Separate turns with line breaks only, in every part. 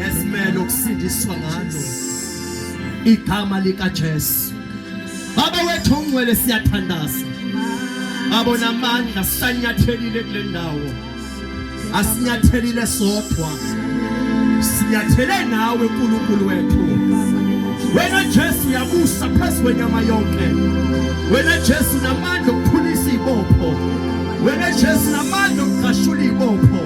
esimele ukusindiswa ngalo igama likaJesu baba wethu ongcwele siyathandaza abona amandla sanyathelile kule ndawo asinyathelile sodwa sinyathele nawe uNkulunkulu wethu wena Jesu yabusa phezu kwenyama yonke wena Jesu namandla okuphulisa ibopho wena Jesu namandla okugashula ibopho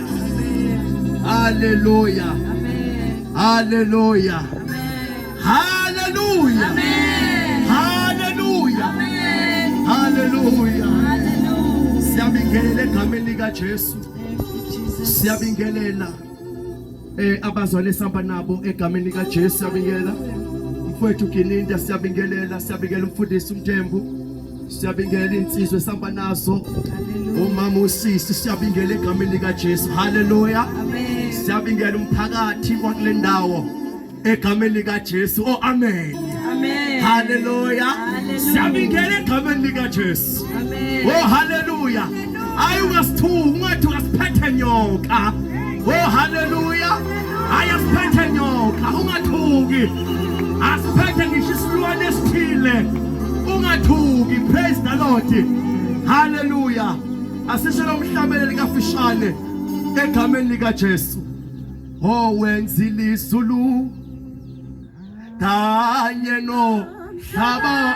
Haleluya. Haleluya. Haleluya. Haleluya. Haleluya. Siyabingelela egameni lika Jesu. Siyabingelela eh abazwale samba nabo egameni lika Jesu siyabingelela. Mfowethu Gininda siyabingelela, siyabingelela umfundisi uMthembu. Siyabingela insizwe samba nazo. Umama usisi siyabingela egameni lika Jesu. Haleluya. Amen. Siyabingela umphakathi wakule ndawo egameni lika Jesu. Oh amen. Amen. Haleluya. Siyabingela egameni lika Jesu. Amen. Oh haleluya. hayi ungasithuki ungathi ungasiphethe nyoka oh haleluya hayi asiphethe nyoka ungathuki asiphethe ngisho isilwane esithile ungathuki praise the lord haleluya asisho lomhlabele likafishane egameni likaJesu oh wenzile izulu kanye no hlaba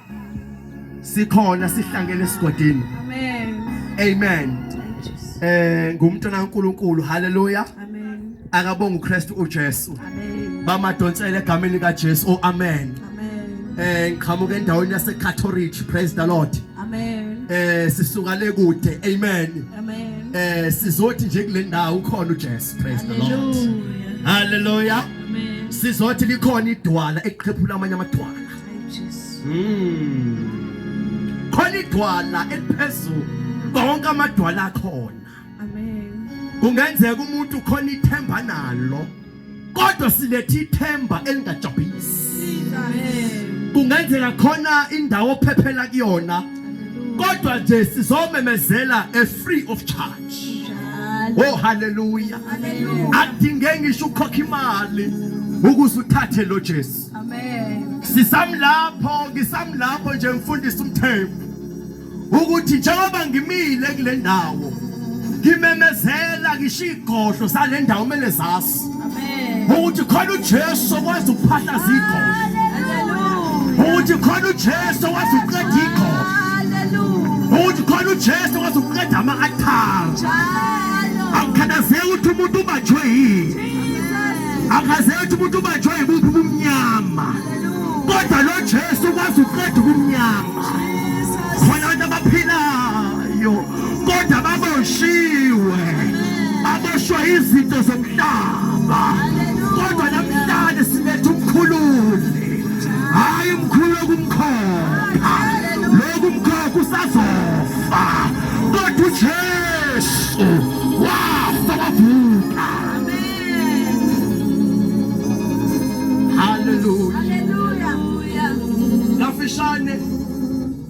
sikhona sihlangene esigodini amen amen eh ngumntwana kaNkuluNkulu haleluya amen akabonga uKristu uJesu amen bamadonsela egameni kaJesu oh amen amen eh ngiqhamuka endaweni yase Catholic praise the lord amen eh sisuka le kude amen amen eh sizothi nje kule ndawo ukhona uJesu praise the lord haleluya amen sizothi likhona idwala eqhephula amanye amadwala Mm. Khona idwala eliphezulu konke amadwala akhona. Amen. Kungenzeka umuntu khona ithemba nalo. Kodwa silethe ithemba elingajabhisi. Amen. Kungenzeka khona indawo ophephela kuyona. Kodwa nje sizomemezela a free of charge. Oh hallelujah. Akudingeki ngisho ukhokha imali ukuze uthathe lo Jesu. Amen. Sisamlapho, ngisamlapho nje mfundisi umthembu. Ukuthi njengoba ngimile kule ndawo ngimemezela ngisho igodlo sale ndawo kumele zazi. Amen. Ukuthi khona uJesu okwazi ukuphahlaza igodlo. Hallelujah. Ukuthi khona uJesu okwazi ukuqeda igodlo. Hallelujah. Ukuthi khona uJesu okwazi ukuqeda ama-athari. Njalo. Akukhathazeki ukuthi umuntu ubanjwe yini. akazethi umuntu ubanjwe yibuphi ubumnyama kodwa lo Jesu ukwazi ukuqeda ubumnyama khona abantu abaphilayo kodwa baboshiwe aboshwa izinto zomhlaba kodwa namhlanje sinetha umkhululi hayi umkhulu okumkhokha lokhu umkhokha usazofa kodwa uJesu wafa wavuka
Kafishane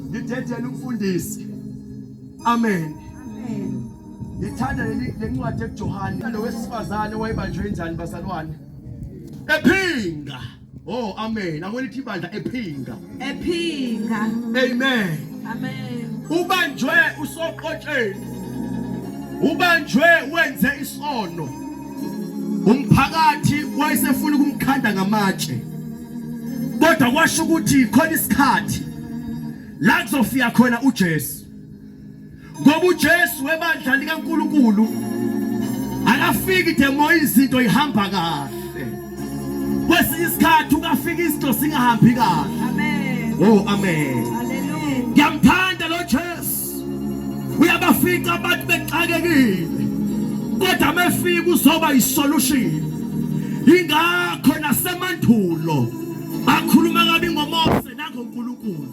ngidedela umfundisi. Amen. Amen.
Ngithanda
leli lencwadi ekuJohane lo wesifazane wayebanjwe injani bazalwane? Ephinga. Oh amen. Akwelithi ibandla ephinga. Ephinga.
Amen. Amen. Ubanjwe
usoqotsheni. Ubanjwe wenze isono. Umphakathi wayesefuna ukumkhanda ngamatshe. Kodwa kwasho ukuthi khona isikhathi la kuzofika khona uJesu. ngoba uJesu webandla likaNkulunkulu akafiki demoya izinto ihamba kahle kwesinye isikhathi ukafika izinto singahambi kahle amen oh
amen
haleluya
ngiyamthanda lo
Jesu uyabafica abantu bexakekile kodwa mefika uzoba isolution ingakho nasemandulo bakhuluma kabi ngoMose nangoNkulunkulu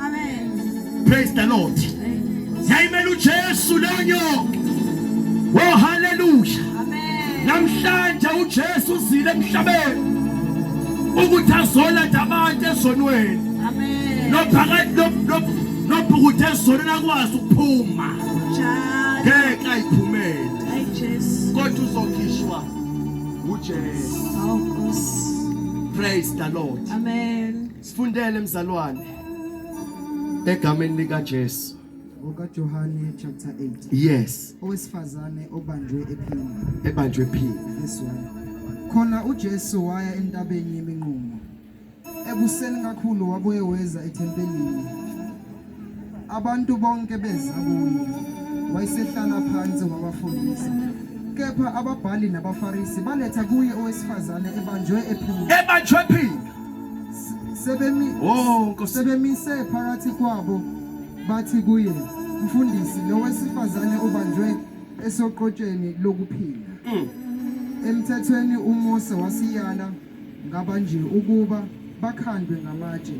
Amen.
Praise the Lord.
Yayimela uJesu leyo nyoka. Oh hallelujah. Amen.
Namhlanje
uJesu uzile emhlabeni. Ukuthi azoletha abantu ezonweni. Amen.
Nophakathi
nobhukuthi ezonweni akwazi ukuphuma. Njalo.
Ngeke
ayiphumele. Ay Jesu.
Kodwa uzokhishwa
uJesu. Awu
Nkosi. Praise the
Lord. Amen.
Sifundele mzalwane
egameni lika Jesu. okaJohane
chapter 8 Yes,
owesifazane
obanjwe ephini ebanjwe phini.
verse 1
khona uJesu waya entabeni yeminqumo ekuseni kakhulu wabuye weza ethempelini Abantu bonke beza kuye, wayesehlala phansi wabafundisa. Kepha ababhali nabaFarisi baletha kuye owesifazane ebanjwe ephila. Ebanjwe ephila.
Sebemi Oh,
Nkosi. Sebemise phakathi kwabo bathi kuye, "Mfundisi, lo wesifazane ubanjwe esoqotsheni lokuphila." Mm. Emthethweni uMose wasiyala ngaba nje ukuba bakhandwe ngamatshe,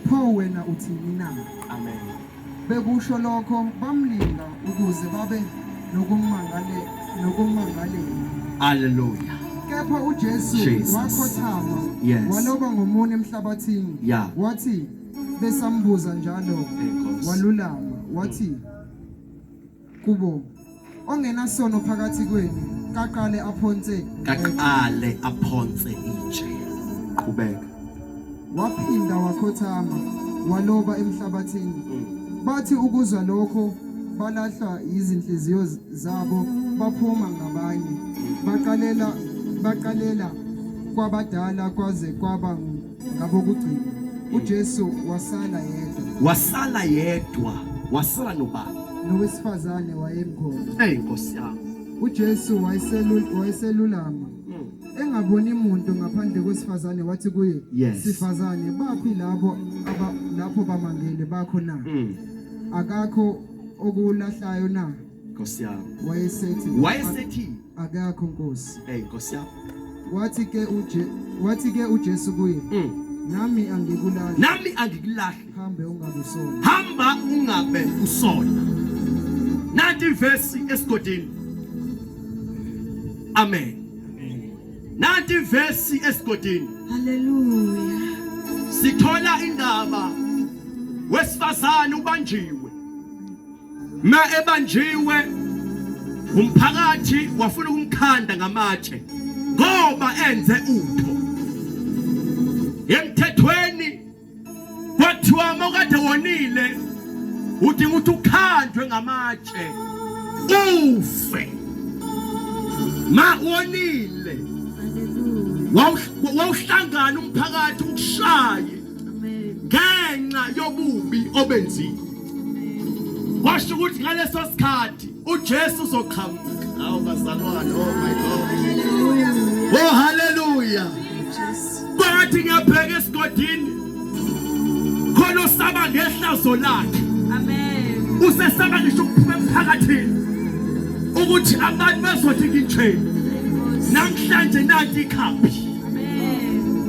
pho wena uthini na? Amen.
Bekusho
lokho bamlinga ukuze babe nokumangale nokumangalela. Hallelujah.
Kepha
uJesu Jesus. wakhothama Yes. waloba ngomunwe emhlabathini Yeah. wathi besambuza njalo Enkosi. walulama wathi kubo ongenasono phakathi kwenu kaqale aphonse kaqale aphonse
itshe qhubeka
waphinda wakhothama waloba emhlabathini mm. bathi ukuzwa lokho balahlwa yizinhliziyo zabo baphuma ngabanye baqalela baqalela kwabadala kwaze kwaba Ngabo kugcina uJesu wasala yedwa. Wasala yedwa. Wasala nobani? Nowesifazane wayemkhona. Hey Nkosi yami.
UJesu
wayeselula wayeselulama. Hmm. Engaboni muntu ngaphandle kwesifazane wathi kuye yes. sifazane baphi labo aba lapho bamangele bakho na? Hmm. Akakho okulahlayo na? Nkosi yami.
Wayesethi wayesethi
akakho nkosi hey nkosi yami
wathi ke uje wathi
ke uJesu kuye mm. nami angikulahla nami angikulahla hambe ungabe usona hamba ungabe
usona nanti verse esigodini amen nanti verse esigodini haleluya
sithola
indaba wesifazane ubanjiwe Ma ebanjiwe umphakathi wafuna ukumkhanda ngamatshe ngoba enze utho emthethweni kwathiwa mokade wonile udinga ukuthi ukhandwe ngamatshe ufe ma wonile wawuhlangana umphakathi ukushaye ngenxa yobubi obenzile washo ukuthi ngaleso sikhathi uJesu uzoqhamuka awu bazalwane oh my god oh haleluya kwathi ngiyabheka esigodini khona usaba ngehlazo lakhe amen usesaba
ngisho ukuphuma
emphakathini ukuthi abantu bazothi ngitsheni namhlanje nanti ikhambi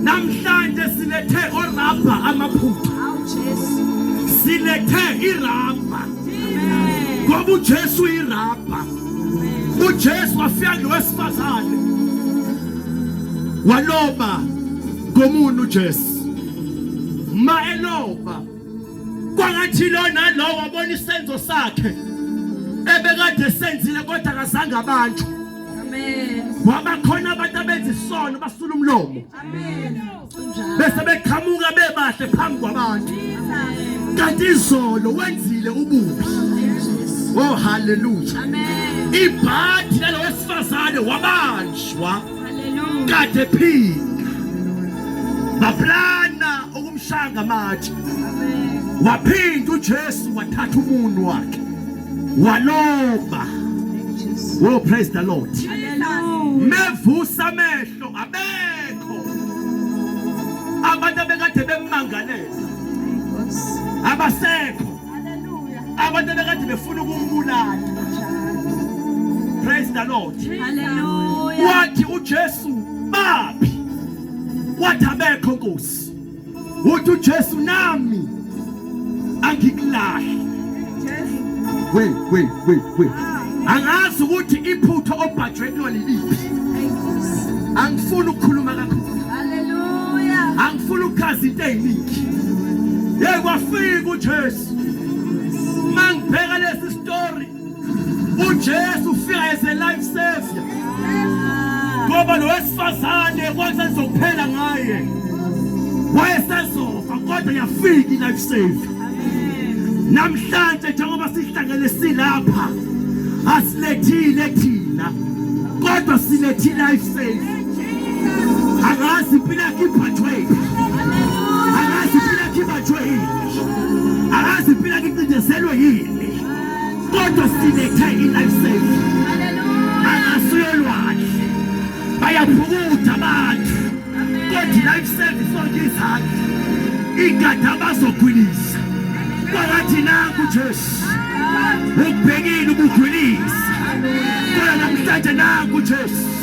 Namhlanje silethe orabha amaphupha. Silethe irabha. Ngoba uJesu irabha. UJesu wafika ngowesifazane. Waloba ngomuntu uJesu. Ma eloba kwangathi lo nalowo abona isenzo sakhe ebekade senzile kodwa akazange abantu ngoba khona abantu abenza isono basula umlomo bese beqhamuka bebahle phambi kwabantu kanti izolo wenzile ububi oh haleluya ibhathi lalo wesifazane wabanjwa kade phinda baplana ukumshanga amatshe waphinda uJesu wathatha umuntu wakhe walomba oh praise the lord mevusa amehlo abekho abantu abekade bemmangaleza abasekho abantu abekade befuna ukumbulala praise the lord wathi ujesu baphi wathi abekho nkosi uthi uJesu nami angikulahle we we we we angazi ukuthi iphutha obhajwe kulona liphi angifuni ukukhuluma kakhulu haleluya angifuni ukuchaza into eziningi yekwa fika uJesu mangibheka lesi story uJesu ufika as a life savior ngoba lo wesifazane kwathi sengizokuphela ngaye wayesezofa kodwa yafika i-life savior namhlanje njengoba sihlangene silapha asilethile thina kodwa silethi life safe angazi impilo yakhe iphathwe angazi impilo yakhe ibathwe yini angazi impilo yakhe icindezelwe yini kodwa sinethe i-life safe angasuyolwandle bayaphukutha abantu kodwa i-life safe isonke izandla igada abazogwilisa kwalathi nangu jesu ukubhekile ubugwilisa kodwa namhlanje nangu jesu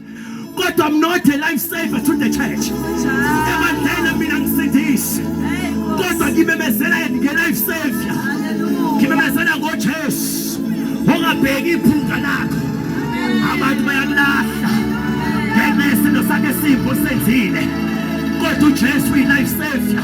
kodwa I'm not a life saver to the church ebandleni mina ngisindisi kodwa ngimemezela nge-life savior ngimemezela ngojesu ongabheki iphunga lakho abantu bayakulahla ngenxa yesinto sakhe simbi osenzile kodwa ujesu uyi-life savior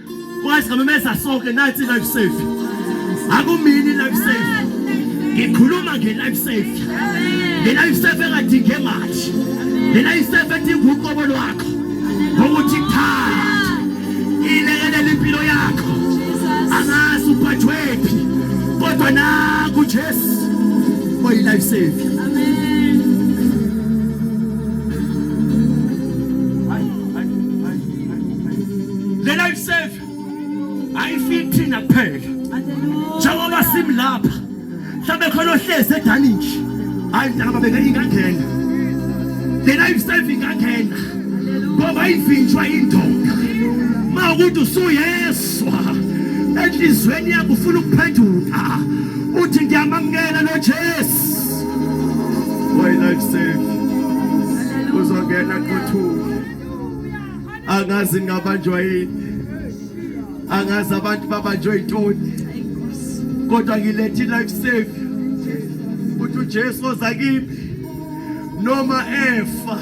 Kwazi ngamemeza sonke nathi life safe. Akumini life safe. Ngikhuluma nge life safe. Le life safe engadinge manje. Le life safe edinga uqobo lwakho. Ngokuthi cha. Ilekelela impilo yakho. Angazi uphathwephi. Kodwa naku Jesu. Oyi life safe. le life save ayifiki thina kuphela njengoba simi lapha mhlawumbe khona ohlezi edaninji hayi njengoba beke ingangena le life save ingangena ngoba ivinjwa indoda ma ukuthi usuyeswa enhliziyweni yakho ufuna ukuphenduka uthi ngiyamamukela lo Jesu why life save uzongena qothuka angazi ngingabanjwa yini angazi abantu babanjwe yintoni kodwa ngilethi life savior ukuthi uJesu oza kimi noma efa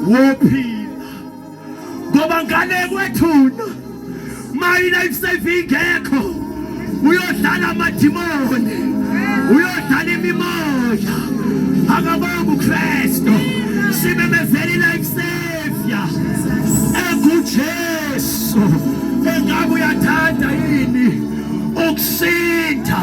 wophila ngoba ngane kwethuna mayina ikusave ingekho uyodlala amadimoni uyodlala imimoya akabonga ukristu simemezela ilife savior engujesu engabe uyathanda yini ukusinda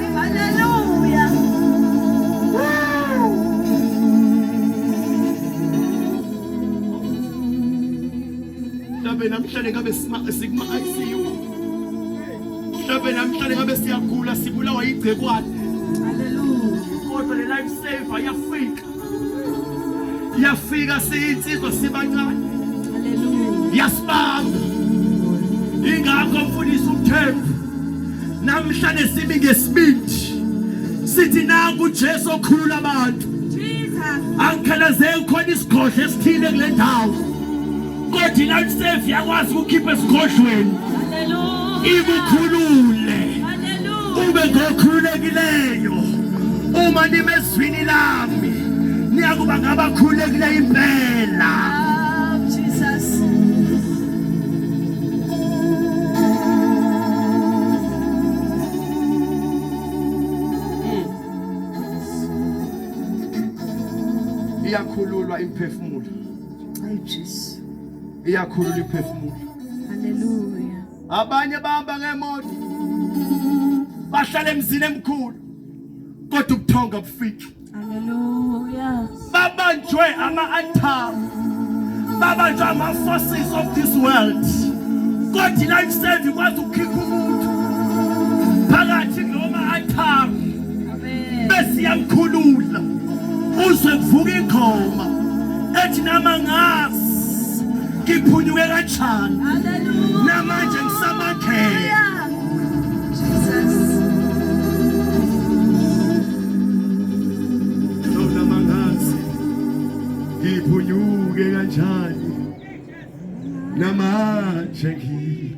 mhlawumbe namhlanje ngabe sikuma-ICU mhlawumbe namhlanje ngabe siyagula sibulawa yigcekwane kodwa le life saver yafika yafika siyinsizwa sibancane yasibamba ingakho mfundisi uthembu namhlanje simi ngesibindi sithi naku uJesu okhulula abantu angikhalazeki khona isigodlo esithile kule ndawo kodwa ilife save yakwazi ukukhipha esigodlweni ikukhulule ube ngokhululekileyo uma nimezwini lami niyakuba ngabakhululekileyo impela iyakhululwa imphefumulo Ay Jesu. Iyakhulula iphefumulo. Haleluya. Abanye bahamba ngemoto. Bahlala emzini emkhulu. Kodwa ubuthonga bufiki. Haleluya. Babanjwe ama-altar. Babanjwe ama-forces of this world. Kodwa life save ikwazi ukukhipha umuntu phakathi noma altar. besiyamkhulula uze kuvuka ingoma ethi nama ngazi ngiphunyuke kanjani namanje ngisamakhela ngiphunyuke kanjani namanje ngi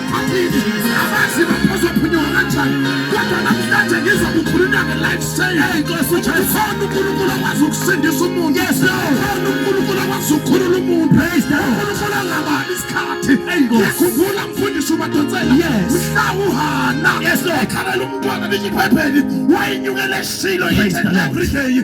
Phathini abazi baphozophunyiwa kanjani kodwa namhlanje ngizokukhulula nge-life saying inkosi ukhona unkulunkulu akwazi ukusindisa umuntu khona
unkulunkulu akwazi
ukukhulula umuntu unkulunkulu angabani isikhathi yakhumbula mfundisi ubadonsela mhla uhana ekhalela
umntwana linyiphepheni
wayenyukela eshilo everyday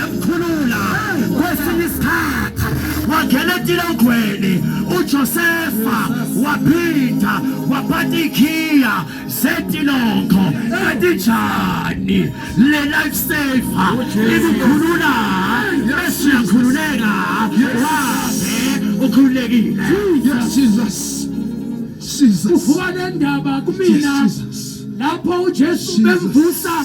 yamkhulula kwesinye isikhathi wangena etilogweni uJosefa waphinda waphatha ikhiya zetilongo kanjani le life saver ikukhulula bese uyakhululeka wabe ukhululekile yes jesus jesus
uvuka nendaba kumina lapho uJesu bemvusa